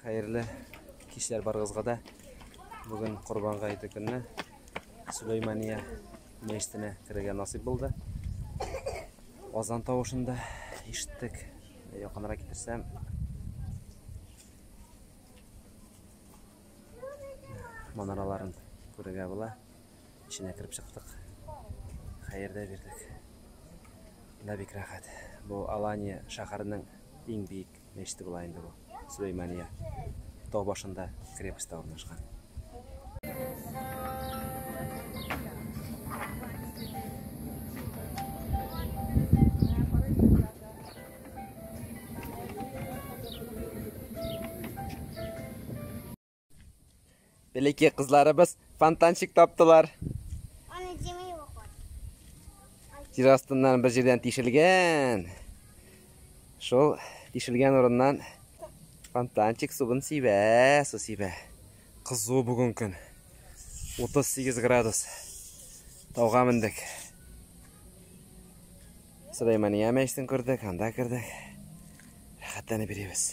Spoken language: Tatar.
Хәерле кичләр барыгызга да. Бүген Корбан гаете көнне Сулеймания мәчетенә керергә насыйп булды. Азан тавышын да ишеттек. Якынрак китерсәм, манараларын күрергә була. Эченә кереп чыктык. Хәердә бирдек. Да бик рәхәт. Бу Алания шәһәренең иң биек мәчете була инде бу. Сулеймания. Тау башында крепость та урнашкан. Бәләкәй кызларыбыз фонтанчик таптылар. Аны җимей вакыт. Җир астыннан бер җирдән тишелгән. Шул тишелгән урыннан фонтанчик суын сибә, су сибә. Кызу бүген көн. 38 градус. Тауга мендек. Сөләймания мәчетен күрдек, анда кердек. Рәхәтләнеп йөрибез.